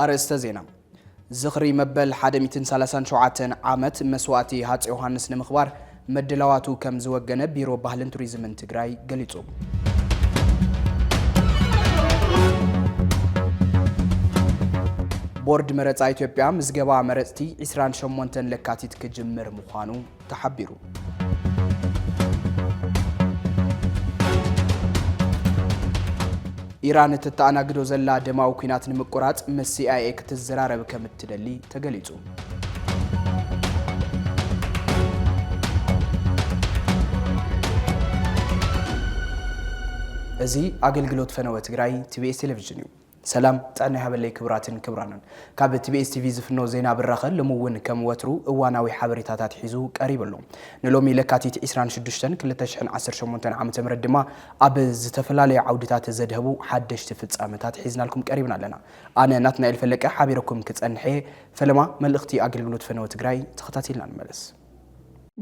ኣርእስተ ዜና፣ ዝኽሪ መበል ሓደ ሚእትን ሰላሳን ሸውዓተን ዓመት መስዋእቲ ሃፀይ ዮሃንስ ንምኽባር ምድላዋቱ ከምዝወገነ ቢሮ ባህልን ቱሪዝምን ትግራይ ገሊፁ። ቦርድ መረፃ ኢትዮጵያ ምዝገባ መረፅቲ 28 ለካቲት ክጅምር ምዃኑ ተሓቢሩ። ኢራን እተተኣናግዶ ዘላ ደማዊ ኲናት ንምቁራፅ ምስ ሲኣይኤ ክትዘራረብ ከም እትደሊ ተገሊፁ። እዚ ኣገልግሎት ፈነወ ትግራይ ቲቢኤስ ቴሌቪዥን እዩ። ሰላም ጥዕና ይሃበለይ ክቡራትን ክቡራንን። ካብ ቲቢኤስ ቲቪ ዝፍኖ ዜና ብራኸ ሎሚ እውን ከም ወትሩ እዋናዊ ሓበሬታታት ሒዙ ቀሪቡ ኣሎ። ንሎሚ ለካቲት 26 2018 ዓ ም ድማ ኣብ ዝተፈላለዩ ዓውድታት ዘድሀቡ ሓደሽቲ ፍፃመታት ሒዝናልኩም ቀሪብና ኣለና። ኣነ ናትናኤል ፈለቀ ሓቢረኩም ክጸንሕ እየ። ፈለማ መልእኽቲ ኣገልግሎት ፈነወ ትግራይ ተኸታቲልና ንመለስ።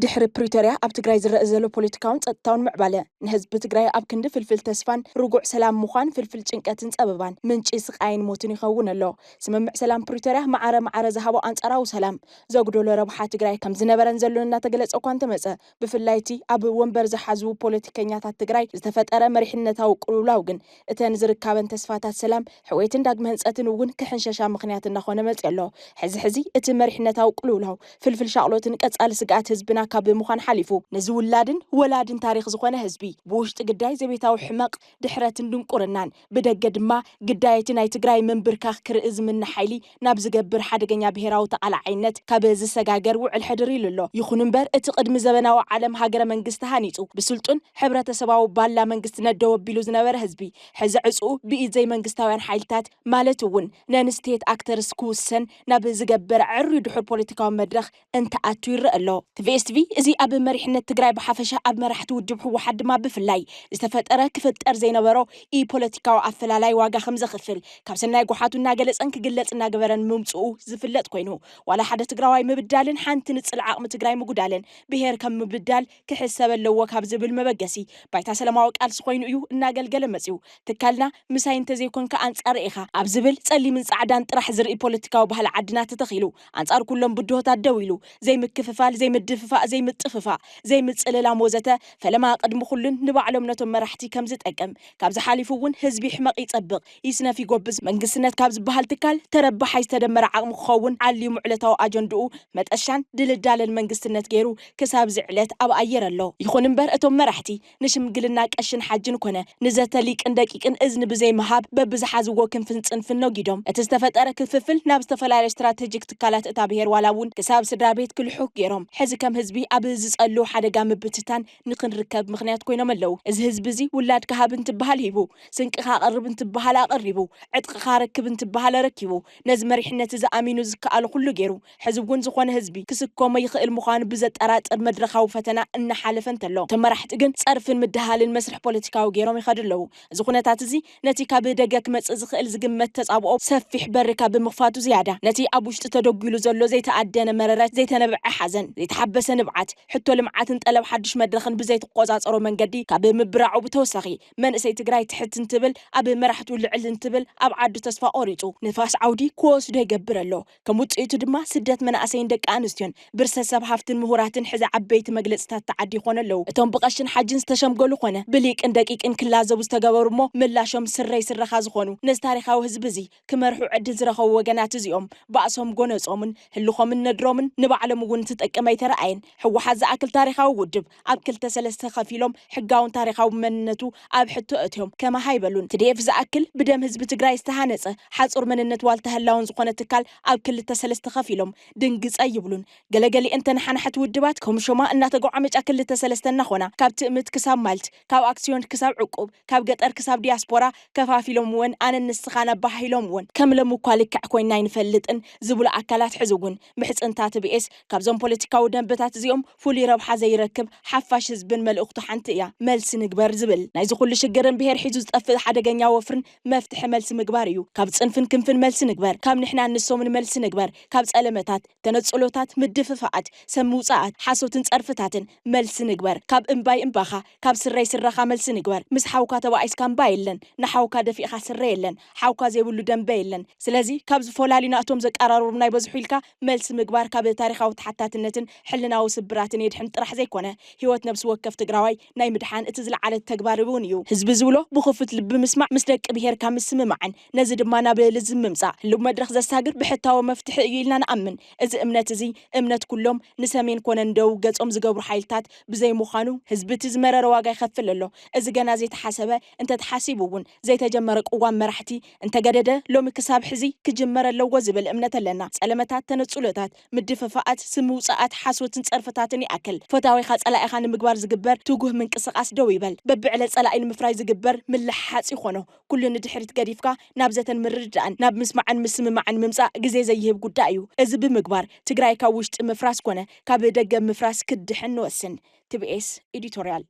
ድሕሪ ፕሪቶርያ ኣብ ትግራይ ዝረእ ዘሎ ፖለቲካውን ፀጥታውን ምዕባለ ንህዝቢ ትግራይ ኣብ ክንዲ ፍልፍል ተስፋን ርጉዕ ሰላም ምዃን ፍልፍል ጭንቀትን ፀበባን ምንጪ ስቓይን ሞትን ይኸውን ኣሎ። ስምምዕ ሰላም ፕሪቶርያ ማዕረ ማዕረ ዝሃቦ ኣንፃራዊ ሰላም ዘጉደሎ ረብሓ ትግራይ ከምዝነበረን ዘሎን እናተገለፀ እኳ እንተመፀ ብፍላይ እቲ ኣብ ወንበር ዝሓዙ ፖለቲከኛታት ትግራይ ዝተፈጠረ መሪሕነታዊ ቅልውላው ግን እተን ዝርካበን ተስፋታት ሰላም፣ ሕውየትን ዳግመ ህንፀትን እውን ክሕንሸሻ ምኽንያት እናኾነ መፂኡ ኣሎ። ሕዚ ሕዚ እቲ መሪሕነታዊ ቅልውላው ፍልፍል ሻቕሎትን ቀፃሊ ስግኣት ህዝብና ካብ ምዃን ሓሊፉ፣ ንዝውላድን ወላድን ታሪኽ ዝኾነ ህዝቢ ብውሽጢ ግዳይ ዘቤታዊ ሕመቕ፣ ድሕረትን ድንቁርናን፣ ብደገ ድማ ግዳይ እቲ ናይ ትግራይ ምንብርካኽ ክርኢ ዝምነ ሓይሊ ናብ ዝገብር ሓደገኛ ብሄራዊ ተቓላዓይነት ካብ ዝሰጋገር ውዕል ሕድር ኢሉ ኣሎ። ይኹን እምበር እቲ ቅድሚ ዘበናዊ ዓለም ሃገረ መንግስቲ ሃኒፁ ብስልጡን ሕብረተሰባዊ ባላ መንግስትነት ደው ኣቢሉ ዝነበረ ህዝቢ ሕዚ ዕፅኡ ብኢድ ዘይመንግስታውያን ሓይልታት ማለት እውን ነን ስቴት ኣክተርስ ክውሰን ናብ ዝገበር ዕርዩ ድሑር ፖለቲካዊ መድረኽ እንትኣቱ ይረኣ ኣሎ። ትቪኤስ ትቪ እዚ ኣብ መሪሕነት ትግራይ ብሓፈሻ ኣብ መራሕቲ ውድብ ህወሓት ድማ ብፍላይ ዝተፈጠረ ክፍጠር ዘይነበሮ ኢፖለቲካዊ ኣፈላላይ ዋጋ ከምዘኽፍል ካብ ሰናይ ጎሓቱ እናገለፀን ክግለፅ እናገበረን ምምፅኡ ዝፍለጥ ኮይኑ ዋላ ሓደ ትግራዋይ ምብዳልን ሓንቲ ንፅል ዓቕሚ ትግራይ ምጉዳልን ብሄር ከም ምብዳል ክሕሰበ ኣለዎ ካብ ዝብል መበገሲ ባይታ ሰላማዊ ቃልሲ ኮይኑ እዩ እናገልገለ መፂኡ። ትካልና ምሳይ እንተዘይኮንካ ኣንፃረይ ኢኻ ኣብ ዝብል ፀሊምን ፃዕዳን ጥራሕ ዝርኢ ፖለቲካዊ ባህሊ ዓድና ተተኺሉ ኣንጻር ኩሎም ብድሆታት ደው ኢሉ፣ ዘይምክፍፋል፣ ዘይምድፍፋእ፣ ዘይምጥፍፋእ፣ ዘይምጽልላም ወዘተ፣ ፈለማ ቅድሚ ኩሉን ንባዕሎም ነቶም መራሕቲ ከም ዝጠቅም፣ ካብዚ ሓሊፉ እውን ህዝቢ ይሕመቕ ይጸብቕ፣ ይስነፍ ይጎብዝ፣ መንግስትነት ካብ ዝበሃል ትካል ተረባሓይ ዝተደመረ ዓቕሚ ክኸውን ዓልዩም ዕለታዊ ኣጀንድኡ መጠሻን ድልዳለን መንግስትነት ገይሩ ክሳብ እዚ ዕለት ኣብ ኣየር ኣሎ። ይኹን እምበር እቶም መራሕቲ፣ ንሽምግልና ቀሽን ሓጅን ኮነ ንዘተ ሊቅን ደቂቅን እዝኒ ብዘይ ምሃብ በብዝሓዝዎ ክንፍን ጽንፍን ነጊዶም እቲ ዝተፈጠረ ክፍፍል ናብ ዝተፈላለዩ ስትራተጂክ ትካላት እታ ብሄር ዋላ እውን ክሳብ ስድራቤት ክልሑኽ ጌሮም ሕዚ ከም ህዝቢ ኣብ ዝጸልው ሓደጋ ምብትታን ንክንርከብ ምኽንያት ኮይኖም ኣለው። እዚ ህዝቢ እዚ ውላድካ ሃብ እንትበሃል ሂቡ፣ ስንቅኻ ኣቕርብ እንትበሃል ኣቐሪቡ፣ ዕጥቕኻ ኣረክብ እንትበሃል ኣረኪቡ፣ ነዚ መሪሕነት እዚ ኣሚኑ ዝከኣሎ ኩሉ ጌሩ፣ ሕዚ እውን ዝኾነ ህዝቢ ክስከሞ ይኽእል ምዃኑ ብዘጠራጥር መድረኻዊ ፈተና እናሓለፈ እንተሎ፣ እቶም መራሕቲ ግን ፀርፍን ምድሃልን መስርሕ ፖለቲካዊ ገይሮም ይኸዱ ኣለዉ። እዚ ኩነታት እዚ ነቲ ካብ ደገ ክመፅእ ዝኽእል ዝግመት ተፃብኦ ሰፊሕ በሪ ካብ ብምኽፋቱ ዝያዳ ነቲ ኣብ ውሽጢ ተደጒሉ ዘሎ ዘይተኣደነ መረረ፣ ዘይተነብዐ ሓዘን፣ ዘይተሓበሰ ንብዓት፣ ሕቶ ልምዓትን ጠለብ ሓዱሽ መድረኽን ብዘይትቆፃፀሮ መንገዲ ካብ ምብራዑ ብተወሳኺ መንእሰይ ትግራይ ትሕት እንትብል ኣብ መራሕቱ ልዕል እንትብል ኣብ ዓዱ ተስፋ ቆሪፁ ንፋስ ዓውዲ ክወስዶ ይገብር ኣሎ። ከም ውጽኢቱ ድማ ስደት መናእሰይን ደቂ ኣንስትዮን፣ ብርሰት ሰብ ሃፍትን ምሁራትን ሕዚ ዓበይቲ መግለጺታት ተዓዲ ይኾኑ ኣለዉ። እቶም ብቐሽን ሓጅን ዝተሸምገሉ ኮነ ብሊቅን ደቂቅን ክላዘቡ ዝተገበሩ እሞ ምላሾም ስረይ ስረኻ ዝኾኑ ነዚ ታሪኻዊ ህዝቢ እዚ ክመርሑ ዕድል ዝረኸቡ ወገናት እዚኦም ባእሶም ጎነጾምን ህልኾምን ነድሮምን ንባዕሎም እውን እንትጠቅም ኣይተረኣየን። ህወሓት ዝኣክል ታሪኻዊ ውድብ ኣብ ክልተ ሰለስተ ከፊሎም ሕጋውን ታሪኻዊ መንነቱ ኣብ ሕቶ ኣእትዮም ከማህ ኣይበሉን። ትዲኤፍ ዝኣክል ብደም ህዝቢ ትግራይ ዝተሃነፀ ሓፁር መንነት ዋልታ ህላወን ዝኾነ ትካል ኣብ ክልተ ሰለስተ ከፊሎም ድንግፅ ኣይብሉን። ገለገሊኤን ተነሓናሕቲ ውድባት ከምሾማ እናተጎዓመጫ ክልተ ሰለስተ እናኾና ካብ ትእምት ክሳብ ማልት፣ ካብ ኣክስዮን ክሳብ ዕቁብ፣ ካብ ገጠር ክሳብ ዲያስፖራ ከፋፊሎምወን ኣነን ንስኻን ኣበሃሂሎምወን። ከም ለምኳ ልክዕ ኮይና ኣይንፈልጥን ዝብሉ ኣካላት ሕዚ እውን ምሕጽንታ ትብኤስ ካብዞም ፖለቲካዊ ደንበታት እዚኦም ፍሉይ ረብሓ ዘይረክብ ሓፋሽ ህዝብን መልእኽቱ ሓንቲ እያ፣ መልሲ ንግበር ዝብል። ናይዚ ኩሉ ሽግርን ብሄር ሒዙ ዝጠፍእ ሓደገኛ ወፍርን መፍትሒ መልሲ ምግባር እዩ። ካብ ጽንፍን ክንፍን መልሲ ንግበር፣ ካብ ንሕናን ንሶምን መልሲ ንግበር፣ ካብ ጸለመታት፣ ተነጽሎታት፣ ምድፍፋኣት፣ ሰም ምውጻኣት፣ ሓሶትን ጸርፍታትን መልሲ ንግበር፣ ካብ እምባይ እምባኻ፣ ካብ ስረይ ስረኻ መልሲ ንግበር፣ ምስ ሓውካ ተባኢስካ እምባ የለን፣ ንሓውካ ደፊእኻ ስረ የለን፣ ሓውካ ዘይብሉ ደምበ የለን። ስለዚ ካብ ዝፎላልዩና እቶም ዘቃራርቡና ይበዝሑ ኢልካ መልሲ ምግባር ካብ ታሪኻዊ ተሓታትነትን ሕልናዊ ስብራትን የድሕን ጥራሕ ዘይኮነ ህይወት ነብሲ ወከፍ ትግራዋይ ናይ ምድሓን እቲ ዝለዓለ ተግባር እውን እዩ። ህዝቢ ዝብሎ ብኽፉት ልቢ ምስማዕ ምስ ደቂ ብሄርካ ምስምማዕን ነዚ ድማ ናብ ልዝብ ምምፃእ ህልው መድረኽ ዘሳግር ብሕታዊ መፍትሒ እዩ ኢልና ንኣምን። እዚ እምነት እዚ እምነት ኩሎም ንሰሜን ኮነ ንደቡብ ገፆም ዝገብሩ ሓይልታት ብዘይምዃኑ ህዝቢ እቲ ዝመረረ ዋጋ ይኸፍል ኣሎ። እዚ ገና ዘይተሓሰበ እንተተሓሲቡ እውን ዘይተጀመረ ቅዋም መራሕቲ እንተገደደ ሎሚ ክሳብ ሕዚ ክጅመር ኣለዎ ዝብል እምነት ኣለና። ጸለመታት፣ ተነጽሎታት፣ ምድፍፋኣት፣ ስም ምውጻኣት፣ ሓሶትን ጸርፍታትን ይኣክል። ፈታዊኻ ጸላኢኻ ንምግባር ዝግበር ትጉህ ምንቅስቓስ ደው ይበል። በብዕለት ጸላኢ ንምፍራይ ዝግበር ምልሕሓጽ ይኾኖ ኩሉ ንድሕሪት ገዲፍካ ናብ ዘተን ምርድዳእን፣ ናብ ምስማዕን ምስምማዕን ምምጻእ ግዜ ዘይህብ ጉዳይ እዩ። እዚ ብምግባር ትግራይ ካብ ውሽጢ ምፍራስ ኮነ ካብ ደገ ምፍራስ ክትድሕን ንወስን። TBS Editorial።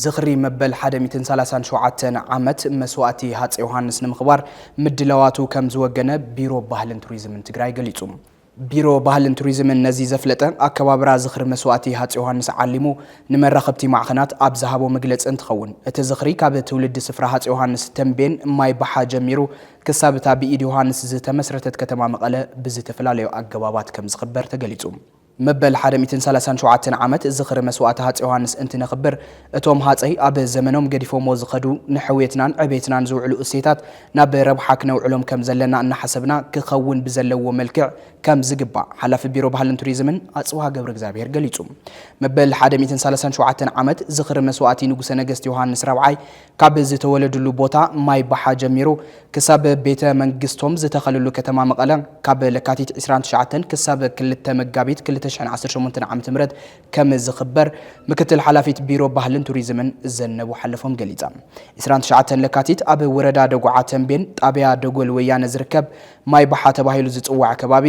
ዝኽሪ መበል ሓደ ሚእትን ሰላሳን ሸውዓተን ዓመት መስዋእቲ ሃፀይ ዮሃንስ ንምኽባር ምድላዋቱ ከም ዝወገነ ቢሮ ባህልን ቱሪዝምን ትግራይ ገሊፁ። ቢሮ ባህልን ቱሪዝምን ነዚ ዘፍለጠ ኣከባብራ ዝኽሪ መስዋእቲ ሃፀይ ዮሃንስ ዓሊሙ ንመራኸብቲ ማዕኸናት ኣብ ዝሃቦ መግለፂ እንትኸውን እቲ ዝኽሪ ካብ ትውልዲ ስፍራ ሃፀይ ዮሃንስ ተምቤን ማይ ባሓ ጀሚሩ ክሳብ እታ ብኢድ ዮሃንስ ዝተመስረተት ከተማ መቐለ ብዝተፈላለዩ ኣገባባት ከም ዝኽበር ተገሊፁ። መበል ሓደ ሚእትን ሰላሳን ሸውዓተን ዓመት ዝኽሪ መስዋእቲ ሃፀይ ዮሃንስ እንትነኽብር እቶም ሃፀይ ኣብ ዘመኖም ገዲፎምዎ ዝኸዱ ንሕውየትናን ዕብየትናን ዝውዕሉ እሴታት ናብ ረብሓ ክነውዕሎም ከምዘለና እናሓሰብና ክኸውን ብዘለዎ መልክዕ ከምዝግባእ ሓላፊ ቢሮ ባህልን ቱሪዝምን ኣፅብሃ ገብረእግዚኣብሄር ገሊፁ። መበል ሓደ ሚእትን ሰላሳን ሸውዓተን ዓመት ዝኽሪ መስዋእቲ ንጉሰ ነገስት ዮሃንስ ራብዓይ ካብ ዝተወለድሉ ቦታ ማይ ባሓ ጀሚሩ ክሳብ ቤተ መንግስቶም ዝተኸልሉ ከተማ መቐለ ካብ ለካቲት ዕስራን ትሽዓተን ክሳብ ክልተ መጋቢት ክልተ ሽሕን ዓሰርተ ሸሞንተን ዓመተ ምህረት ከም ዝኽበር ምክትል ሓላፊት ቢሮ ባህልን ቱሪዝምን ዘነቡ ሓለፎም ገሊፃ። ዕስራን ትሽዓተን ለካቲት ኣብ ወረዳ ደጉዓ ተምቤን ጣብያ ደጎል ወያነ ዝርከብ ማይ ባሓ ተባሂሉ ዝፅዋዕ ከባቢ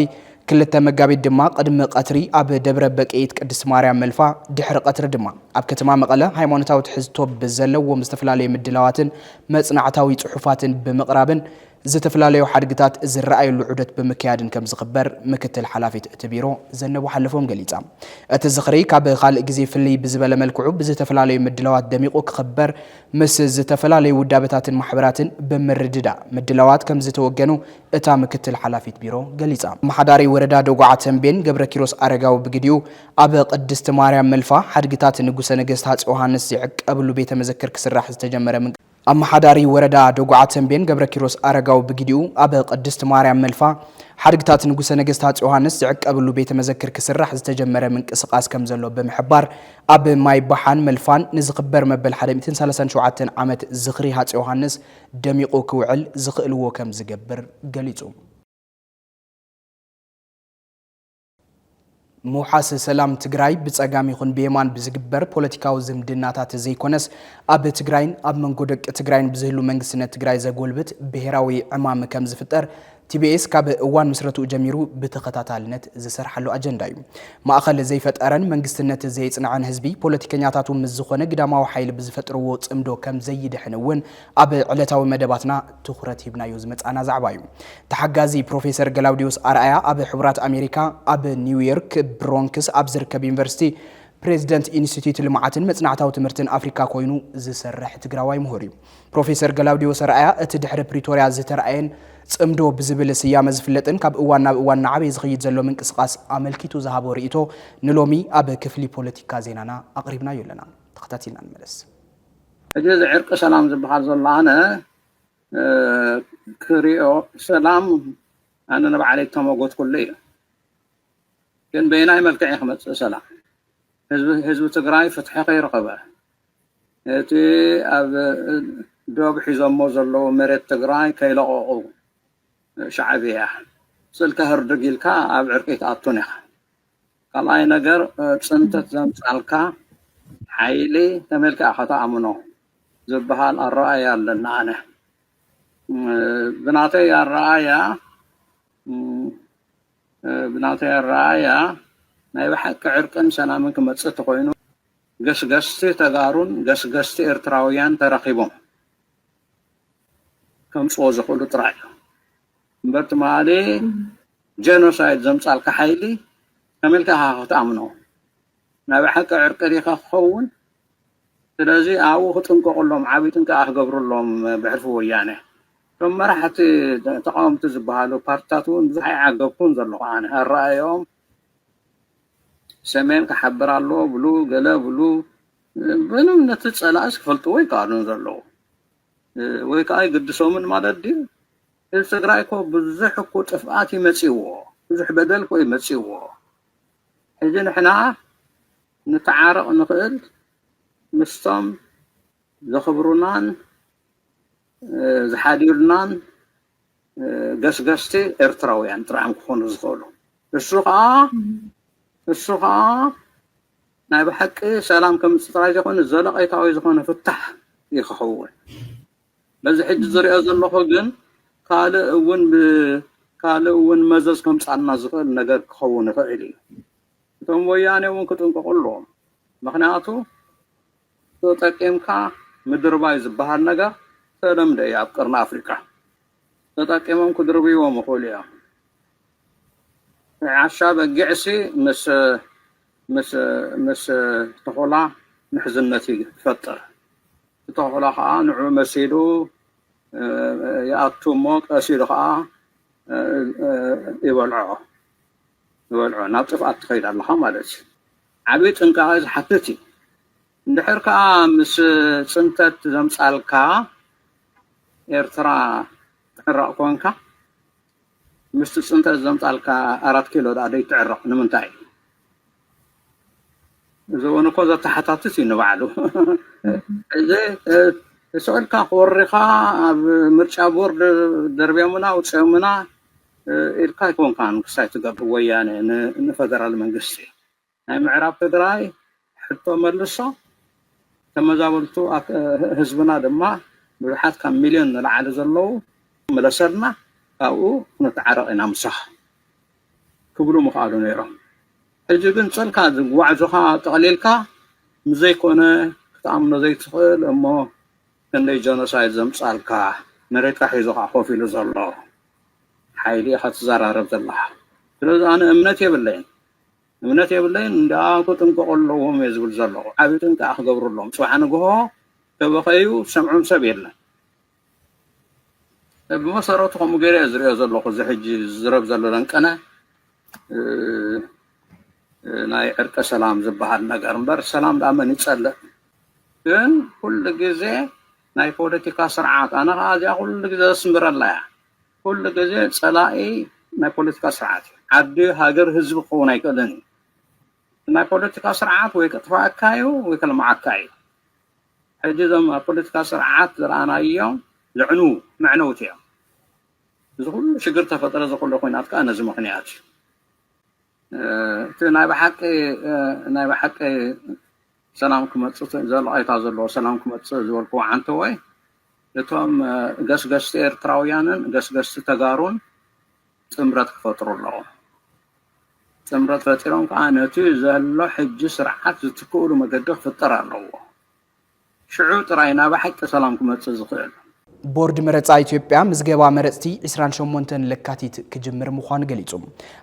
ክልተ መጋቢት ድማ ቕድሚ ቐትሪ ኣብ ደብረ በቅይት ቅድስት ማርያም መልፋ ድሕሪ ቐትሪ ድማ ኣብ ከተማ መቐለ ሃይማኖታዊ ትሕዝቶ ብዘለዎም ዝተፈላለዩ ምድላዋትን መፅናዕታዊ ፅሑፋትን ብምቕራብን ዝተፈላለዩ ሓድግታት ዝረኣዩሉ ዑደት ብምክያድን ከምዝኽበር ምክትል ሓላፊት እቲ ቢሮ ዘነቡ ሓለፎም ገሊፃ። እቲ ዝኽሪ ካብ ኻልእ ግዜ ፍልይ ብዝበለ መልክዑ ብዝተፈላለዩ ምድላዋት ደሚቑ ክኽበር ምስ ዝተፈላለዩ ውዳበታትን ማሕበራትን ብምርድዳእ ምድላዋት ከምዝተወገኑ እታ ምክትል ሓላፊት ቢሮ ገሊፃ። ኣመሓዳሪ ወረዳ ደጉዓ ተምቤን ገብረኪሮስ ኣረጋዊ ብግዲኡ፣ ኣብ ቅድስቲ ማርያም መልፋ ሓድግታት ንጉሰ ነገስት ሃፄ ዮሃንስ ዝዕቀብሉ ቤተ መዘክር ክስራሕ ዝተጀመረ ኣመሓዳሪ ወረዳ ደጉዓ ተምቤን ገብረኪሮስ ኣረጋዊ ብግዲኡ፣ ኣብ ቅድስቲ ማርያም መልፋ ሓድግታት ንጉሰ ነገስት ሃፄ ዮሃንስ ዝዕቀብሉ ቤተ መዘክር ክስራሕ ዝተጀመረ ምንቅስቓስ ከምዘሎ ብምሕባር፣ ኣብ ማይ ባሓን መልፋን ንዝኽበር መበል ሓደ ሚእትን ሰላሳን ሸውዓተን ዓመት ዝኽሪ ሃፄ ዮሃንስ ደሚቑ ክውዕል ዝኽእልዎ ከም ዝገብር ገሊጹ። ምውሓስ ሰላም ትግራይ ብፀጋም ይኹን ብየማን ብዝግበር ፖለቲካዊ ዝምድናታት ዘይኮነስ ኣብ ትግራይን ኣብ መንጎ ደቂ ትግራይን ብዝህሉ መንግስትነት ትግራይ ዘጎልብት ብሄራዊ ዕማም ከም ዝፍጠር ቲቢኤስ ካብ እዋን ምስረትኡ ጀሚሩ ብተኸታታልነት ዝሰርሓሉ ኣጀንዳ እዩ። ማእኸል ዘይፈጠረን መንግስትነት ዘየፅንዐን ህዝቢ ፖለቲከኛታቱ ምስ ዝኾነ ግዳማዊ ሓይሊ ብዝፈጥርዎ ፅምዶ ከምዘይድሕን እውን ኣብ ዕለታዊ መደባትና ትኹረት ሂብናዮ ዝመፃእና ዛዕባ እዩ። ተሓጋዚ ፕሮፌሰር ገላውዴዎስ ኣርኣያ ኣብ ሕቡራት ኣሜሪካ ኣብ ኒውዮርክ ብሮንክስ ኣብ ዝርከብ ዩኒቨርሲቲ ፕሬዝደንት ኢንስቲትዩት ልምዓትን መፅናዕታዊ ትምህርትን ኣፍሪካ ኮይኑ ዝሰርሕ ትግራዋይ ምሁር እዩ። ፕሮፌሰር ገላውዴዎስ ኣርኣያ እቲ ድሕሪ ፕሪቶርያ ዝተርኣየን ጽምዶ ብዝብል ስያመ ዝፍለጥን ካብ እዋን ናብ እዋን እናዓበየ ዝኽይድ ዘሎ ምንቅስቓስ ኣመልኪቱ ዝሃቦ ርእይቶ ንሎሚ ኣብ ክፍሊ ፖለቲካ ዜናና ኣቕሪብናዮ ኣለና። ተኸታቲልና ንመለስ። ሕጂ እዚ ዕርቂ ሰላም ዝበሃል ዘሎ ኣነ ክሪኦ ሰላም ኣነ ንባዕለይ እተመጎትኩሉ እዩ ግን በየናይ መልክዕ እዩ ክመጽእ ሰላም ህዝቢ ትግራይ ፍትሒ ከይረኸበ እቲ ኣብ ዶብ ሒዞሞ ዘለዉ መሬት ትግራይ ከይለቐቑ ሻዕብያ ስልካ ህርድግ ኢልካ ኣብ ዕርቂ ኣይትኣቱን ኢኻ። ካልኣይ ነገር ፅንተት ዘምፃልካ ሓይሊ ከመይ ኢልካ ኢኻ ተኣምኖ ዝበሃል ኣረኣእያ ኣለኒ ኣነ። ብናተይ ኣረኣእያ ብናተይ ኣረኣእያ ናይ ብሓቂ ዕርቅን ሰላምን ክመፅእ ተኾይኑ ገስገስቲ ተጋሩን ገስገስቲ ኤርትራውያን ተራኺቦም ከምጽዎ ዝኽእሉ ጥራይ እዮም እምበር ትማሊ ጀኖሳይድ ዘምጻልካ ሓይሊ ከመይ ኢልካ ኢኻ ክትኣምኖ ናይ ብሓቂ ዕርቂ ዲኻ ክኸውን ስለዚ ኣብኡ ክጥንቀቕሎም ዓብዪ ጥንቃቐ ክገብርሎም ብሕልፊ ወያነ እቶም መራሕቲ ተቃወምቲ ዝበሃሉ ፓርትታት እውን ብዙሕ ኣይዓገብኩን ዘለኹ ኣነ ኣረኣእዮም ሰሜን ክሓብር ኣለዎ ብሉ ገለ ብሉ ምንም ነቲ ጸላእስ ክፈልጥዎ ይከኣሉን ዘለዉ ወይ ከዓ ይግድሶምን ማለት ድዩ? ህዝቢ ትግራይ እኮ ብዙሕ እኮ ጥፍኣት ይመፅዎ ብዙሕ በደል እኮ ይመፅዎ ሕዚ ንሕና ንተዓረቕ ንኽእል ምስቶም ዘኽብሩናን ዝሓዲሩናን ገስገስቲ ኤርትራውያን ጥራይ እዮም ክኾኑ ዝኽእሉ እሱ ከዓ እሱ ከዓ ናይ ብሓቂ ሰላም ከምፅእ ጥራይ ዘይኮነ ዘለቐይታዊ ዝኾነ ፍታሕ እዩ ክኸውን በዚ ሕጂ ዝሪኦ ዘለኹ ግን ካልእ እውን ካልእ እውን መዘዝ ከምፃልና ዝኽእል ነገር ክኸውን ይኽእል እዩ እቶም ወያኔ እውን ክጥንቀቑ ኣለዎም ምክንያቱ ተጠቂምካ ምድርባይ ዝበሃል ነገር ዝተለምደ እዩ ኣብ ቀርኒ ኣፍሪቃ። ተጠቂሞም ክድርብይዎም ይኽእሉ እዮም። ናይ ዓሻ በጊዕሲ ምስ ምስ ምስ ተኹላ ምሕዝነት ይፈጥር። እቲ ተኹላ ከዓ ንዑ መሲሉ ይኣቱ እሞ ቀስ ኢሉ ከዓ ይበልዖ ይበልዖ ናብ ጥፍኣት ትኸይድ ኣለኻ ማለት እዩ። ዓቢ ጥንቃቐ ዝሓትት እዩ። እንድሕር ከኣ ምስ ጽንተት ዘምጻልካ ኤርትራ ትዕረቕ ኮንካ፣ ምስቲ ጽንተት ዘምጻልካ ኣራት ኪሎ ደኣ ደይትዕረቕ ንምንታይ? እዚ እውን እኮ ዘተሓታትት እዩ ንባዕሉ። እዚ ስዕልካ ክወሪኻ ኣብ ምርጫ ቦርድ ደርብዮምና ኣውጽኦምና ኢልካ ኣይኮንካን ክሳይ ትገብር ወያነ ንፈደራል መንግስቲ። ናይ ምዕራብ ትግራይ ሕቶ መልሶ ተመዛበልቱ ህዝብና ድማ ብዙሓት ካብ ሚልዮን ንላዕሊ ዘለዉ ምለሰልና ካብኡ ክንተዓረቕ ኢና ምሳኻ ክብሉ ምኽኣሉ ነይሮም ሕጂ ግን ጽልካ ዝጓዕዞኻ ጠቕሊልካ ምዘይኮነ ክትኣምኖ ዘይትኽእል እሞ ክንደይ ጀኖሳይድ ዘምጻልካ መሬትካ ሒዞኻ ኮፍ ኢሉ ዘሎ ሓይሊ ኢኻ ትዘራረብ ዘለኻ ስለዚ ኣነ እምነት የብለይን እምነት የብለይን እንዳ ክጥንቀቁ ኣለዎም እየ ዝብል ዘለኹ ዓቢ ጥንቃቀ ክገብርሎም ጽባሕ ንግሆ ተበኸዩ ሰምዖም ሰብ የለን ብመሰረቱ ከምኡ ገይረ እየ ዝሪኦ ዘለኹ እዚ ሕጂ ዝዝረብ ዘሎ ለንቀነ ናይ ዕርቀ ሰላም ዝበሃል ነገር እምበር ሰላም ዳኣ መን ይጸልእ ግን ኩሉ ግዜ ናይ ፖለቲካ ስርዓት ኣነ ከዓ እዚኣ ኩሉ ግዜ ዘስምረላ እያ ኩሉ ግዜ ጸላኢ ናይ ፖለቲካ ስርዓት እዩ። ዓዲ ሃገር ህዝቢ ክኸውን ኣይክእልን እዩ። ናይ ፖለቲካ ስርዓት ወይ ክጥፍኣካ እዩ ወይ ከልምዓካ እዩ። ሕጂ እዞም ኣብ ፖለቲካ ስርዓት ዝረኣናዮም ዘዕንዉ መዕነውቲ እዮም። እዚ ኩሉ ሽግር ተፈጥረ እዚ ኩሉ ኩናት ከኣ ነዚ ምኽንያት እዩ። እቲ ናይ ብሓቂ ናይ ብሓቂ ሰላም ክመፅእ ዘለኣይታ ዘለዎ ሰላም ክመፅእ ዝበልኩዎ ዓንተወይ እቶም ገስገስቲ ኤርትራውያንን ገስገስቲ ተጋሩን ጥምረት ክፈጥሩ ኣለዎም ጥምረት ፈጢሮም ከዓ ነቲ ዘሎ ሕጂ ስርዓት ዝትክእሉ መገዲ ክፍጠር ኣለዎ ሽዑ ጥራይ ናብ ሓቂ ሰላም ክመጽእ ዝኽእል። ቦርድ መረጻ ኢትዮጵያ ምዝገባ መረጽቲ ዕስራን ሸሞንተን ለካቲት ክጅምር ምዃኑ ገሊጹ።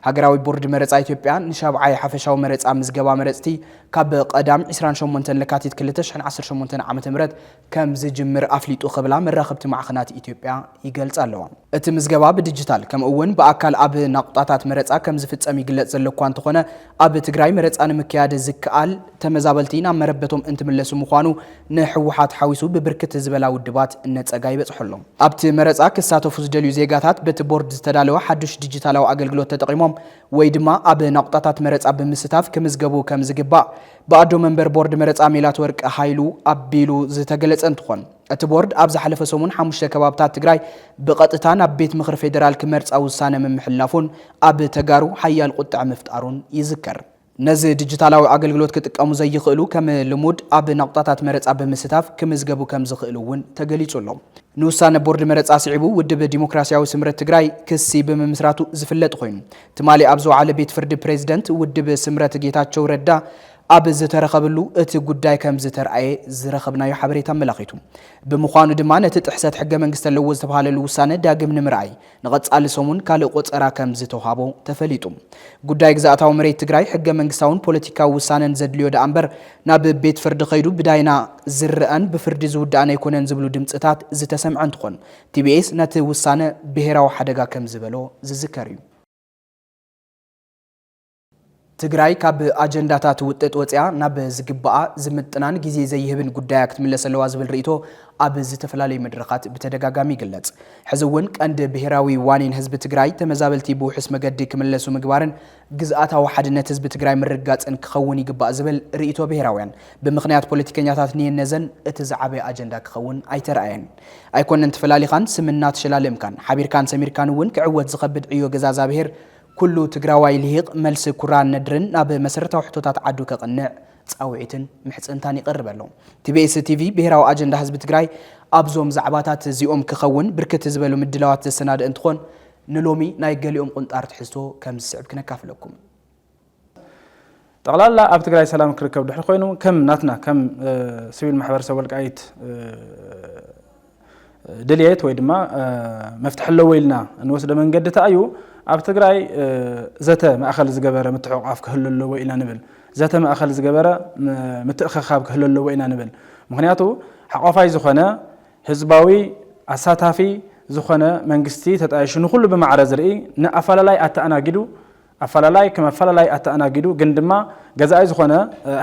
ሃገራዊ ቦርድ መረጻ ኢትዮጵያ ንሻብዓይ ሓፈሻዊ መረጻ ምዝገባ መረጽቲ ካብ ቀዳም ዕስራን ሸሞንተን ለካቲት ክልተ ሽሕን ዓሰርተ ሸሞንተን ዓመተ ምህረት ከም ዝጅምር ኣፍሊጡ ክብላ መራኸብቲ ማዕኸናት ኢትዮጵያ ይገልጻ ኣለዋ። እቲ ምዝገባ ብዲጂታል ከምኡ'ውን ብኣካል ኣብ ናቑጣታት መረጻ ከም ዝፍጸም ይግለጽ ዘሎ'ኳ እንተኾነ፣ ኣብ ትግራይ መረፃ ንምክያድ ዝከኣል ተመዛበልቲ ናብ መረበቶም እንትምለሱ ምዃኑ ንህወሓት ሓዊሱ ብብርክት ዝበላ ውድባት ነፀጋ ይበፅሖ ኣሎ። ኣብቲ መረፃ ክሳተፉ ዝደልዩ ዜጋታት በቲ ቦርድ ዝተዳለወ ሓዱሽ ዲጂታላዊ ኣገልግሎት ተጠቒሞም ወይ ድማ ኣብ ናቑጣታት መረፃ ብምስታፍ ክምዝገቡ ከምዝግባእ ብኣዶ መንበር ቦርድ መረፃ ሜላትወርቅ ሃይሉ ኣቢሉ ዝተገለፀ እንትኾን እቲ ቦርድ ኣብ ዝሓለፈ ሰሙን ሓሙሽተ ከባብታት ትግራይ ብቐጥታ ናብ ቤት ምኽሪ ፌዴራል ክመርፃ ውሳነ ምምሕላፉን ኣብ ተጋሩ ሓያል ቁጥዐ ምፍጣሩን ይዝከር። ነዚ ዲጂታላዊ ኣገልግሎት ክጥቀሙ ዘይኽእሉ ከም ልሙድ ኣብ ናቑጣታት መረፃ ብምስታፍ ክምዝገቡ ከምዝኽእሉ እውን ተገሊፁ ኣሎ። ንውሳነ ቦርድ መረፃ ስዒቡ ውድብ ዲሞክራሲያዊ ስምረት ትግራይ ክሲ ብምምስራቱ ዝፍለጥ ኾይኑ ትማሊ ኣብ ዝወዓለ ቤት ፍርዲ ፕሬዝደንት ውድብ ስምረት ጌታቸው ረዳ ኣብ ዝተረኸብሉ እቲ ጉዳይ ከምዝተርኣየ ዝረኸብናዮ ሓበሬታ ኣመላኺቱ። ብምዃኑ ድማ ነቲ ጥሕሰት ሕገ መንግስቲ ኣለዎ ዝተብሃለሉ ውሳነ ዳግም ንምርኣይ ንቐፃሊ ሰሙን ካልእ ቆፀራ ከምዝተውሃቦ ተፈሊጡ። ጉዳይ ግዝኣታዊ መሬት ትግራይ ሕገ መንግስታውን ፖለቲካዊ ውሳነን ዘድልዮ ደኣ እምበር ናብ ቤት ፍርዲ ከይዱ ብዳይና ዝርኣን ብፍርዲ ዝውዳእን ኣይኮነን ዝብሉ ድምፅታት ዝተሰምዐ እንትኾን ቲቢኤስ ነቲ ውሳነ ብሄራዊ ሓደጋ ከምዝበሎ ዝዝከር እዩ። ትግራይ ካብ ኣጀንዳታት ውጥጥ ወፂኣ ናብ ዝግባኣ ዝምጥናን ግዜ ዘይህብን ጉዳያ ክትምለስ ኣለዋ ዝብል ርኢቶ ኣብ ዝተፈላለዩ መድረኻት ብተደጋጋሚ ይግለፅ። ሕዚ እውን ቀንዲ ብሄራዊ ዋኒን ህዝቢ ትግራይ ተመዛበልቲ ብውሑስ መገዲ ክምለሱ ምግባርን ግዝኣታዊ ሓድነት ህዝቢ ትግራይ ምርግጋፅን ክኸውን ይግባእ ዝብል ርኢቶ ብሄራውያን ብምኽንያት ፖለቲከኛታት ንየነዘን እቲ ዝዓበየ ኣጀንዳ ክኸውን ኣይተርኣየን። ኣይኮነን ተፈላሊኻን ስም እናተሸላለምካን ሓቢርካን ሰሚርካን እውን ክዕወት ዝኸብድ ዕዮ ገዛዛ ብሄር ኩሉ ትግራዋይ ሊሂቅ መልሲ ኩራን ነድርን ናብ መሰረታዊ ሕቶታት ዓዱ ከቅንዕ ፃውዒትን ምሕፅንታን ይቀርበሉ። ቲቢኤስ ቲቪ ብሄራዊ ኣጀንዳ ህዝቢ ትግራይ ኣብዞም ዛዕባታት እዚኦም ክኸውን ብርክት ዝበሉ ምድላዋት ዘሰናድእ እንትኾን ንሎሚ ናይ ገሊኦም ቁንጣር ትሕዝቶ ከምዝስዕብ ክነካፍለኩም። ጠቕላላ ኣብ ትግራይ ሰላም ክርከብ ድሕሪ ኮይኑ ከም ናትና ከም ስቪል ማሕበረሰብ ወልቃይት ድልየት ወይ ድማ መፍትሒ ኣለዎ ኢልና እንወስደ መንገዲ እታ እዩ ኣብ ትግራይ ዘተ ማእኸል ዝገበረ ምትሕቋፍ ክህሉ ኣለዎ ኢና ንብል ዘተ ማእኸል ዝገበረ ምትእኸኻብ ክህሉ ኣለዎ ኢና ንብል ምክንያቱ ሓቋፋይ ዝኾነ ህዝባዊ ኣሳታፊ ዝኾነ መንግስቲ ተጣይሹ ንኩሉ ብማዕረ ዝርኢ ንኣፈላላይ ኣተኣናጊዱ ኣፈላላይ ከም ኣፈላላይ ኣተኣናጊዱ ግን ድማ ገዛኢ ዝኾነ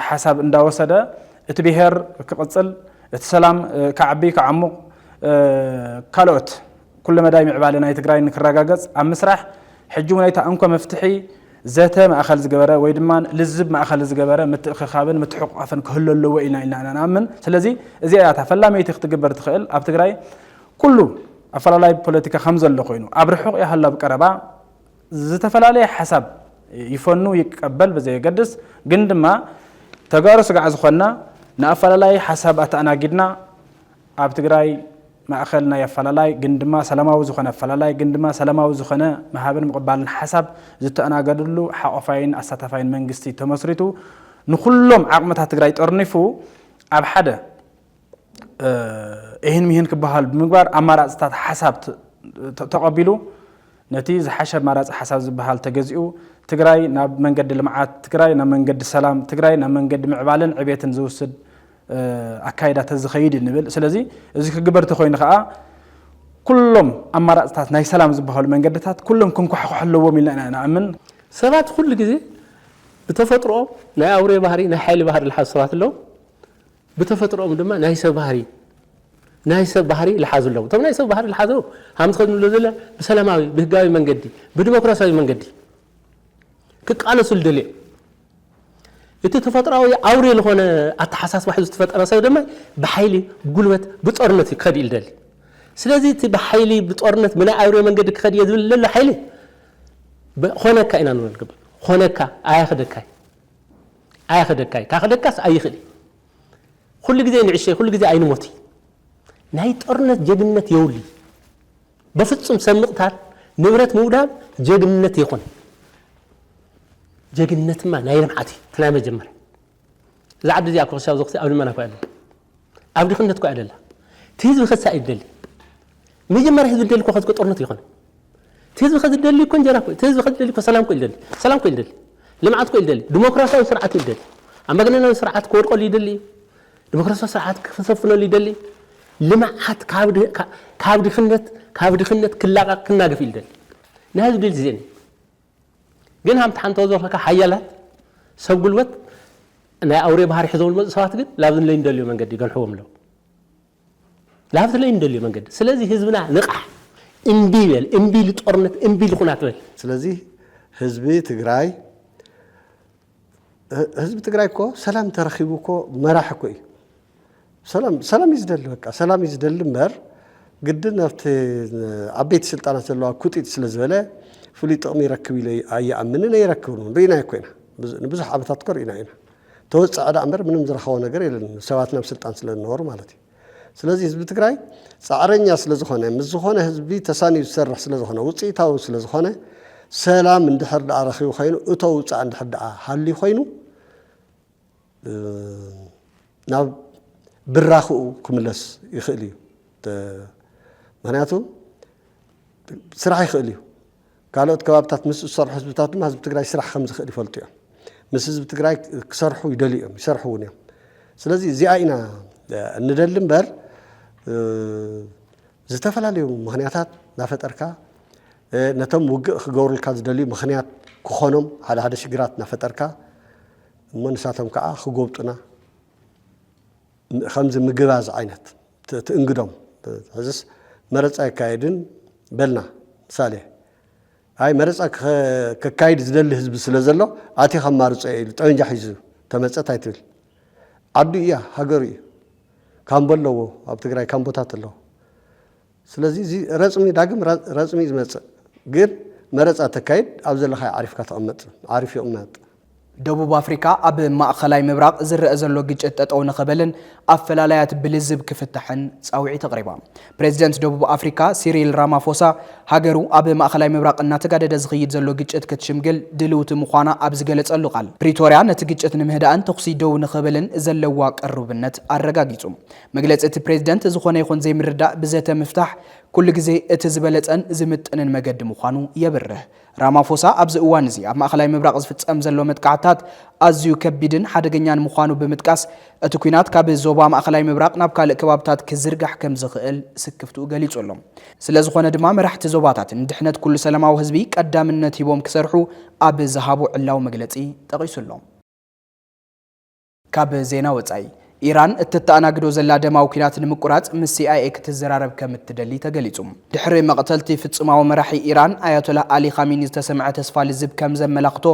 ሓሳብ እንዳወሰደ እቲ ብሄር ክቕፅል፣ እቲ ሰላም ክዓቢ ክዓሙቕ፣ ካልኦት ኩለ መዳይ ምዕባለ ናይ ትግራይ ንክረጋገፅ ኣብ ምስራሕ ሕጂ እውን እታ እንኮ መፍትሒ ዘተ ማእኸል ዝገበረ ወይ ድማ ልዝብ ማእኸል ዝገበረ ምትእኽኻብን ምትሕቑቛፍን ክህሉ ኣለዎ ኢልና ኢና ንኣምን። ስለዚ እዚኣ እያ እታ ፈላመይቲ ክትግበር ትኽእል። ኣብ ትግራይ ኩሉ ኣፈላላይ ፖለቲካ ከምዘሎ ኮይኑ ኣብ ርሑቕ ይሃሉ ኣብ ቀረባ ዝተፈላለየ ሓሳብ ይፈኑ ይቀበል ብዘየገድስ ግን ድማ ተጋሩ ስጋዕ ዝኾንና ንኣፈላላይ ሓሳብ ኣተኣናጊድና ኣብ ትግራይ ማእኸል ናይ ኣፈላላይ ግን ድማ ሰላማዊ ዝኾነ ኣፈላላይ ግን ድማ ሰላማዊ ዝኾነ ምሃብን ምቕባልን ሓሳብ ዝተኣናገድሉ ሓቆፋይን ኣሳታፋይን መንግስቲ ተመስሪቱ ንኹሎም ዓቕምታት ትግራይ ጠርኒፉ ኣብ ሓደ እሂን ምሂን ክበሃል ብምግባር ኣማራፅታት ሓሳብ ተቐቢሉ ነቲ ዝሓሸ ኣማራፂ ሓሳብ ዝበሃል ተገዚኡ ትግራይ ናብ መንገዲ ልምዓት፣ ትግራይ ናብ መንገዲ ሰላም፣ ትግራይ ናብ መንገዲ ምዕባለን ዕቤትን ዝውስድ ኣካይዳ ተዝኸይድ እዩ ንብል። ስለዚ እዚ ክግበር ተኮይኑ ከዓ ኩሎም ኣማራፅታት ናይ ሰላም ዝበሃሉ መንገድታት ኩሎም ክንኳሕኳሑ ኣለዎም ኢልና ኢና ንኣምን። ሰባት ኩሉ ግዜ ብተፈጥሮኦም ናይ ኣውሬ ባህሪ ናይ ሓይሊ ባህሪ ዝሓዙ ሰባት ኣለዉ። ብተፈጥሮኦም ድማ ናይ ሰብ ባህሪ ናይ ሰብ ባህሪ ልሓዙ ኣለዎም እቶም ናይ ሰብ ባህሪ ልሓዙ ሃም ዝኸድ ንብሎ ዘለ ብሰላማዊ ብህጋዊ መንገዲ ብዲሞክራሲያዊ መንገዲ ክቃለሱ ልደልዮ እቲ ተፈጥሮዊ ኣውሬ ዝኾነ ኣተሓሳስባ ሒዙ ዝተፈጠረ ሰብ ድማ ብሓይሊ ብጉልበት ብጦርነት እዩ ክኸድ እዩ ልደሊ ስለዚ እቲ ብሓይሊ ብጦርነት ብናይ ኣውሬ መንገዲ ክኸድ እየ ዝብል ዘሎ ሓይሊ ኾነካ ኢና ንብሎ ንግበር ኾነካ ኣያኽደካይ ኣያኸደካይ ካኸደካስ ኣይኽእል እዩ ኹሉ ግዜ ንዕሸይ ኹሉ ግዜ ኣይንሞትይ ናይ ጦርነት ጀግንነት የውልይ በፍጹም ሰብ ምቕታል ንብረት ምውዳም ጀግንነት የኾነይ ጀግንነትማ ናይ ልምዓት እዩ እቲ ናይ መጀመርያ እዛ ዓዲ እዚኣ እኮ ክሳብ እዚ ክሳብ ኣብ ልመና እኮ ኣለና ኣብ ድኽነት እኳ እያ ደላ እቲ ህዝቢ ከሳ እዩ ዝደሊ መጀመርያ ህዝቢ ዝደሊ እኮ ከዚ ጦርነት ይኾነ እቲ ህዝቢ ከዚ ዝደሊ እኮ እንጀራ እኮ እቲ ህዝቢ ከዚ ዝደሊ እኮ ሰላም እኮ ይደሊ ሰላም እኮ ይደሊ ልምዓት እኮ ይደሊ ዲሞክራሲያዊ ስርዓት ይደሊ ኣምባገነናዊ ስርዓት ክወድቀሉ ይደሊ እዩ ዲሞክራሲያዊ ስርዓት ክሰፍነሉ ይደሊ ልምዓት ካብ ድኽነት ካብ ድኽነት ክላቐቕ ክናገፍ ይደሊ ናይ ህዝቢ ድል ዜን ግን ሃምቲ ሓንቶ ዘኸካ ሓያላት ሰብ ጉልበት ናይ ኣውሬ ባህሪ ሒዞም ዝመፁ ሰባት ግን ላብዚ ንለይ እንደልዮ መንገዲ ይገንሕዎም ኣለዉ ላብዚ ለይ እንደልዮ መንገዲ ስለዚ ህዝብና ንቓሕ እምቢ በል እምቢ ልጦርነት እምቢ ልኹናት በል ስለዚ ህዝቢ ትግራይ ህዝቢ ትግራይ እኮ ሰላም ተረኺቡ እኮ መራሒ እኮ እዩ ሰላም ሰላም እዩ ዝደሊ በቃ ሰላም እዩ ዝደሊ እምበር ግድን ኣብቲ ዓበይቲ ስልጣናት ዘለዋ ኩጢጥ ስለ ዝበለ ፍሉይ ጥቕሚ ይረክብ ኢለ ኣይኣምንን ኣይረክብን እውን ርኢናዮ እኮ ኢና ንብዙሕ ዓመታት እኮ ርኢና ኢና ተወፀዐ ዳኣ እምበር ምንም ዝረኸቦ ነገር የለን ሰባት ናብ ስልጣን ስለ ዝነበሩ ማለት እዩ ስለዚ ህዝቢ ትግራይ ፃዕረኛ ስለዝኾነ ምስ ዝኾነ ህዝቢ ተሳንዩ ዝሰርሕ ስለዝኾነ ውፅኢታዊ ስለዝኾነ ሰላም እንድሕር ድኣ ረኺቡ ኮይኑ እቶ ውፃእ እንድሕር ድኣ ሃልዩ ኮይኑ ናብ ብራኽኡ ክምለስ ይኽእል እዩ ምክንያቱ ስራሕ ይኽእል እዩ ካልኦት ከባብታት ምስ ዝሰርሑ ህዝብታት ድማ ህዝቢ ትግራይ ስራሕ ከም ዝኽእል ይፈልጡ እዮም። ምስ ህዝቢ ትግራይ ክሰርሑ ይደልዩ እዮም፣ ይሰርሑ እውን እዮም። ስለዚ እዚኣ ኢና እንደሊ እምበር ዝተፈላለዩ ምክንያታት እናፈጠርካ ነቶም ውግእ ክገብሩልካ ዝደልዩ ምክንያት ክኾኖም ሓደ ሓደ ሽግራት እናፈጠርካ እሞ ንሳቶም ከዓ ክጎብጡና ከምዚ ምግባዝ ዓይነት ትእንግዶም ሕዝስ መረፃ ኣይካየድን በልና ምሳሌ ኣይ መረፃ ከካይድ ዝደሊ ህዝቢ ስለ ዘሎ ኣቲ ከማርፆ እየ ኢሉ ጠበንጃ ሒዙ ተመፀ ታይ ትብል ዓዱ እያ ሃገሩ እዩ ካምቦ ኣለዎ ኣብ ትግራይ ካምቦታት ኣለዎ ስለዚ እዚ ረጽሚ ዳግም ረጽሚ እዩ ዝመጽእ ግን መረጻ ተካይድ ኣብ ዘለኻዮ ዓሪፍካ ተቐመጥ ዓሪፍ ይቕመጥ። ደቡብ ኣፍሪቃ ኣብ ማእኸላይ ምብራቕ ዝረኣ ዘሎ ግጭት ጠጠው ንኽበልን ኣፈላላያት ብልዝብ ክፍታሕን ፃውዒት ኣቕሪባ። ፕሬዚደንት ደቡብ ኣፍሪካ ሲሪል ራማፎሳ ሃገሩ ኣብ ማእኸላይ ምብራቕ እናተጋደደ ዝኽይድ ዘሎ ግጭት ክትሽምግል ድልውቲ ምዃና ኣብ ዝገለፀሉ ቃል ፕሪቶሪያ ነቲ ግጭት ንምህዳእን ተኹሲ ደው ንኽብልን ዘለዋ ቅሩብነት ኣረጋጊፁ። መግለጺ እቲ ፕሬዚደንት ዝኾነ ይኹን ዘይምርዳእ ብዘተ ምፍታሕ ኩሉ ግዜ እቲ ዝበለፀን ዝምጥንን መገዲ ምዃኑ የብርህ። ራማፎሳ ኣብዚ እዋን እዚ ኣብ ማእኸላይ ምብራቕ ዝፍፀም ዘሎ መጥቃዕትታት ኣዝዩ ከቢድን ሓደገኛን ምዃኑ ብምጥቃስ እቲ ኲናት ካብ ዞባ ማእኸላይ ምብራቕ ናብ ካልእ ከባብታት ክዝርጋሕ ከምዝኽእል ስክፍትኡ ገሊፁ ኣሎ። ስለዝኾነ ድማ መራሕቲ ዞባታት ንድሕነት ኩሉ ሰላማዊ ህዝቢ ቀዳምነት ሂቦም ክሰርሑ ኣብ ዝሃቦ ዕላዊ መግለፂ ጠቒሱ ኣሎ። ካብ ዜና ወጻኢ ኢራን እተተኣናግዶ ዘላ ደማዊ ኲናት ንምቁራጽ ምስ ሲኣይኤ ክትዘራረብ ከም እትደሊ ተገሊጹ። ድሕሪ መቕተልቲ ፍጹማዊ መራሒ ኢራን ኣያቶላህ ኣሊ ኻሚኒ ዝተሰምዐ ተስፋ ልዝብ ከም ዘመላኽቶ፣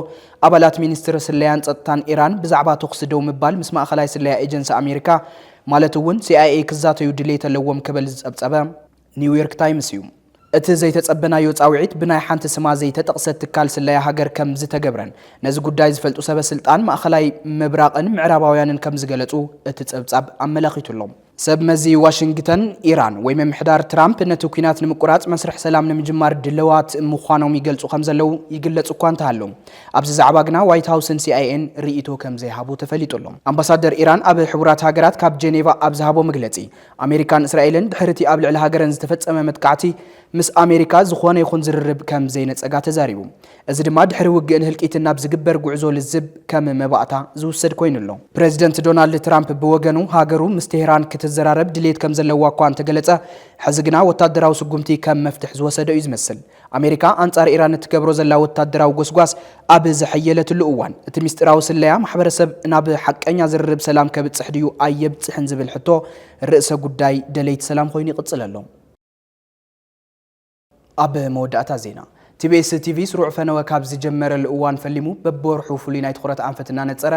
ኣባላት ሚኒስትሪ ስለያን ጸጥታን ኢራን ብዛዕባ ተዅሲ ደው ምባል ምስ ማእከላይ ስለያ ኤጀንሲ ኣሜሪካ ማለት እውን ሲኣይኤ ክዛተዩ ድሌት ኣለዎም ክብል ዝጸብጸበ ኒውዮርክ ታይምስ እዩ። እቲ ዘይተጸበናዮ ጻውዒት ብናይ ሓንቲ ስማ ዘይተጠቕሰት ትካል ስለያ ሃገር ከም ዝተገብረን ነዚ ጉዳይ ዝፈልጡ ሰበ ስልጣን ማእኸላይ ምብራቕን ምዕራባውያንን ከም ዝገለጹ እቲ ጸብጻብ ኣመላኺቱ ኣሎ። ሰብ መዚ ዋሽንግተን፣ ኢራን ወይ ምምሕዳር ትራምፕ ነቲ ኲናት ንምቁራጽ መስርሕ ሰላም ንምጅማር ድለዋት ምዃኖም ይገልጹ ከም ዘለዉ ይግለጽ እኳ እንተሃሎ፣ ኣብዚ ዛዕባ ግና ዋይት ሃውስን ሲኣይኤን ርእይቶ ከም ዘይሃቡ ተፈሊጡ ኣሎ። ኣምባሳደር ኢራን ኣብ ሕቡራት ሃገራት ካብ ጀኔቫ ኣብ ዝሃቦ መግለጺ፣ ኣሜሪካን እስራኤልን ድሕሪ'ቲ ኣብ ልዕሊ ሃገረን ዝተፈጸመ መጥቃዕቲ ምስ ኣሜሪካ ዝኾነ ይኹን ዝርርብ ከም ዘይነጸጋ ተዛሪቡ። እዚ ድማ ድሕሪ ውግእን ህልቂትን ናብ ዝግበር ጉዕዞ ልዝብ ከም መባእታ ዝውሰድ ኮይኑ ኣሎ። ፕረዚደንት ዶናልድ ትራምፕ ብወገኑ ሃገሩ ምስ ቴህራን ክትዘራረብ ድልየት ከም ዘለዋ እኳ እንተገለጸ፣ ሕዚ ግና ወታደራዊ ስጉምቲ ከም መፍትሕ ዝወሰደ'ዩ ዝመስል። ኣሜሪካ ኣንጻር ኢራን እትገብሮ ዘላ ወታደራዊ ጎስጓስ ኣብ ዘሐየለትሉ እዋን፣ እቲ ምስጢራዊ ስለያ ማሕበረሰብ ናብ ሓቀኛ ዝርርብ ሰላም ከብጽሕ ድዩ ኣየብጽሕን ዝብል ሕቶ ርእሰ ጉዳይ ደለይቲ ሰላም ኮይኑ ይቕጽል ኣሎ። ኣብ መወዳእታ ዜና ቲቢኤስ ቲቪ ስሩዕ ፈነወ ካብ ዝጀመረሉ እዋን ፈሊሙ በብወርሑ ፍሉይ ናይ ትኹረት ኣንፈት እናነጸረ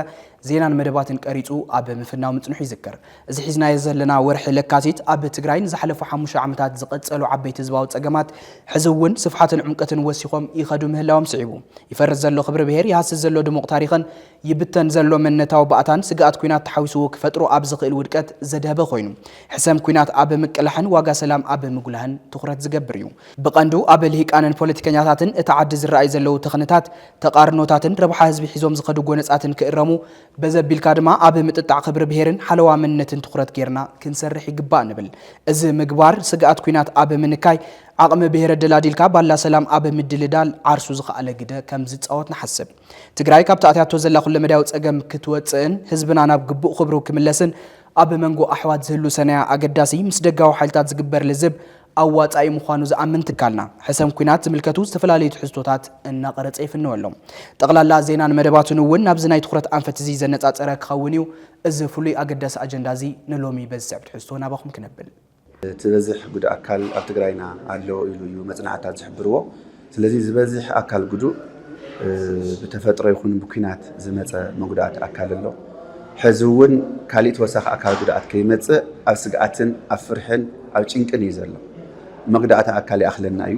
ዜናን መደባትን ቀሪጹ ኣብ ምፍናው ምጽንሑ ይዝከር። እዚ ሒዝናዮ ዘለና ወርሒ ለካቲት ኣብ ትግራይ ንዝሓለፉ ሓሙሽተ ዓመታት ዝቐጸሉ ዓበይቲ ህዝባዊ ጸገማት ሕዚ እውን ስፍሓትን ዑምቀትን ወሲኾም ይኸዱ ምህላዎም ስዒቡ ይፈርስ ዘሎ ክብሪ ብሄር፣ ይሃስስ ዘሎ ድሙቕ ታሪኽን ይብተን ዘሎ መንነታዊ ባእታን ስግኣት ኲናት ተሓዊስዎ ክፈጥሮ ኣብ ዝኽእል ውድቀት ዘድሀበ ኮይኑ ሕሰም ኲናት ኣብ ምቅላሕን ዋጋ ሰላም ኣብ ምጉላህን ትኹረት ዝገብር እዩ። ብቐንዱ ኣብ ልሂቃንን ፖለቲከኛታትን እታ ዓዲ ዝረኣዩ ዘለዉ ተኽንታት ተቓርኖታትን ረብሓ ህዝቢ ሒዞም ዝኸዱ ጎነጻትን ክእረሙ፣ በዚ ኣቢልካ ድማ ኣብ ምጥጣዕ ክብሪ ብሄርን ሓለዋ መንነትን ትኹረት ገይርና ክንሰርሕ ይግባእ ንብል። እዚ ምግባር፣ ስግኣት ኲናት ኣብ ምንካይ፣ ዓቕሚ ብሄር ኣደላዲልካ ባላ ሰላም ኣብ ምድልዳል ዓርሱ ዝኸኣለ ግደ ከም ዝጻወት ንሓስብ። ትግራይ ካብቲ ኣትያቶ ዘላ ኩለመዳያዊ ጸገም ክትወጽእን ህዝብና ናብ ግቡእ ክብሩ ክምለስን፣ ኣብ መንጎ ኣሕዋት ዝህሉ ሰናያ ኣገዳሲ ምስ ደጋዊ ሓይልታት ዝግበር ልዝብ፣ ኣዋፃኢ ምዃኑ ዝኣምን ትካልና፣ ሕሰም ኲናት ዝምልከቱ ዝተፈላለዩ ትሕዝቶታት እናቐረፀ ይፍንው ኣሎ። ጠቕላላ ዜናን መደባቱን እውን ናብዚ ናይ ትኹረት ኣንፈት እዚ ዘነፃፀረ ክኸውን እዩ። እዚ ፍሉይ ኣገዳሲ ኣጀንዳ እዚ ንሎሚ በዚ ዝስዕብ ትሕዝቶ ናባኹም ክነብል። እቲ በዝሕ ጉድ ኣካል ኣብ ትግራይና ኣሎ ኢሉ እዩ መፅናዕትታት ዝሕብርዎ። ስለዚ ዝበዝሕ ኣካል ጉዱእ ብተፈጥሮ ይኹን ብኲናት ዝመጸ መጉዳእቲ ኣካል ኣሎ። ሕዚ እውን ካሊእ ተወሳኺ ኣካል ጉድኣት ከይመጽእ ኣብ ስግኣትን ኣብ ፍርሕን ኣብ ጭንቅን እዩ ዘሎ። መጉዳእቲ ኣካል ይኣኽለና እዩ፣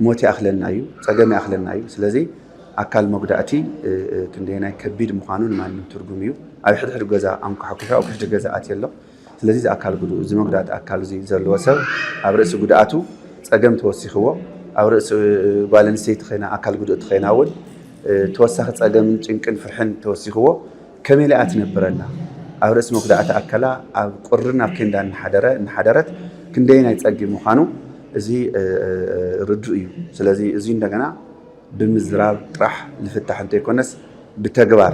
ሞት ይኣኽለና እዩ፣ ጸገም ይኣኽለና እዩ። ስለዚ ኣካል መጉዳእቲ ክንደየናይ ከቢድ ምዃኑ ንማንም ትርጉም እዩ። ኣብ ሕድሕድ ገዛ ኣንኳሕኲሑ ኣብ ውሽጢ ገዛ ኣትየ ኣሎ። ስለዚ እዚ ኣካል ጉዱኡ እዚ መጉዳእቲ ኣካል እዚ ዘለዎ ሰብ ኣብ ርእሲ ጉድኣቱ ጸገም ተወሲኽዎ ኣብ ርእሲ ጓል ኣንስተይቲ ኮይና ኣካል ጉድእቲ ኮይና እውን ተወሳኺ ጸገምን ጭንቅን ፍርሕን ተወሲኽዎ ከመይ ኢላ እያ ትነብር ኣላ ኣብ ርእሲ መጉዳእቲ ኣካላ ኣብ ቁርን ኣብ ኬንዳ እናሓደረ እናሓደረት ክንደይ ናይ ጸጊ ምዃኑ እዚ ርዱእ እዩ ስለዚ እዚ እንደገና ብምዝራብ ጥራሕ ዝፍታሕ እንተይኮነስ ብተግባር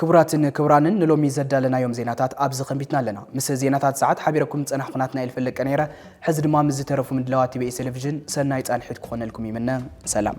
ክቡራትን ክቡራንን ንሎሚ ዘዳለናዮም ዜናታት ኣብዚ ከንቢትና ኣለና። ምስ ዜናታት ሰዓት ሓቢረኩም ዝጸናሕኩ ናትናኤል ፈለቀ ነይረ። ሕዚ ድማ ምስ ዝተረፉ ምድላዋት ቲቢኤስ ቴሌቪዥን ሰናይ ጻንሒት ክኾነልኩም ይምነ። ሰላም።